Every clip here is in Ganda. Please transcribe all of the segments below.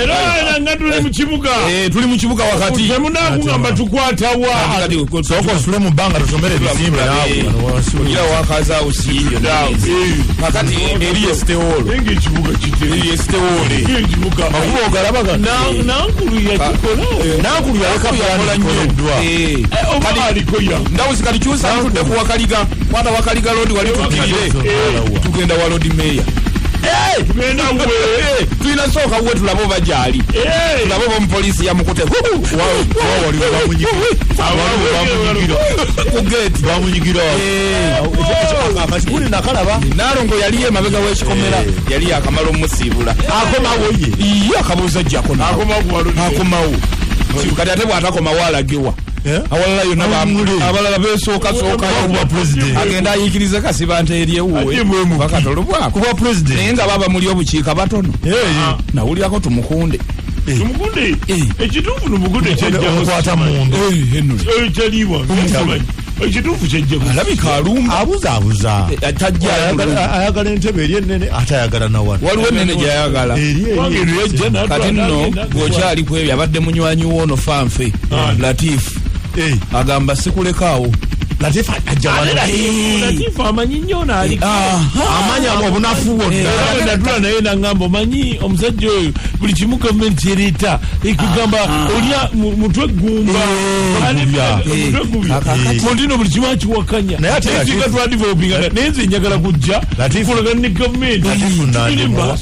era nga tuli mu kibuga eh, tuli mu kibuga wakati temunakugamba tukwatawa soka osule mu bbanga tusomere ebisimbe naweira wakaza usiiyo kakati eri yesitewolo eri yesitewole makuba ogalabaga nankulu yalekakolanyoeddwa ndawuzi kati kyusa ntudde ku wakaliga kwata wakaliga lodi wali tudirire tugenda wa lodi meya tulina sooka we tulaba oba gyali tulaba oba omupoliisi yamukute nalongo yaliyo emabega wekikomera eh. yali yakamala omusiibula akomawo ye akabuuza jjakonakomawo kati ate bwatakomawo alagewa Eh? awalala yona abalala besokasokaagenda ayikiriza kasiba nti eryewuwebakatolobwakuba president naye nga baba muli obukiika batono eh, eh. ah. nawulirako tumukunde tumukunde ekituufu numukunde kyajjaokwata mundu kyaliibwa ekituufu kyejjealabika alumba abuzaabuza eh, eh, tajjaayagala entebe eri enene ate ayagala nawano waliwo enene gyayagala eri eri kati nno bwokyali ku ebyo abadde munywanyi woono fanfe ah. latifu eh. agamba sikulekaawo latifu ajja wano latifu amanyi nnyo naali amanya obunafu bwonnanadula eh, naye nangamba omanyi omusajja oyo buli kimu gavumenti kyereeta ekugamba eh, ah, ah. olya mutwe ggumba mutino eh, buli kimu akiwakanya nayesinga twadivelopinga naye nze njagala kujja kulagana ne gavumenti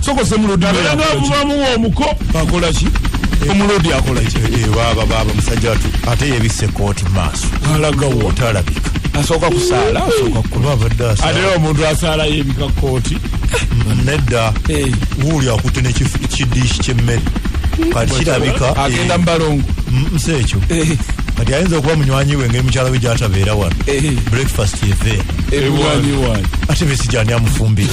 sokosemuludingabamuwa omuko akolaki omulodi akolaki baba baba musajja watu ate yebise kooti maaso alagawo talabika asooka kusaala asooka kukuba abadde asaala ate omuntu asaala yebika kooti nedda wuuli akutte nekidiishi kyemmere kati kirabika agenda mubalongo nsi ekyo kati ayinza okuba munywanyi we ngeri mukyala we gyatabeera wano eh. breakfast eve ate besigyani amufumbire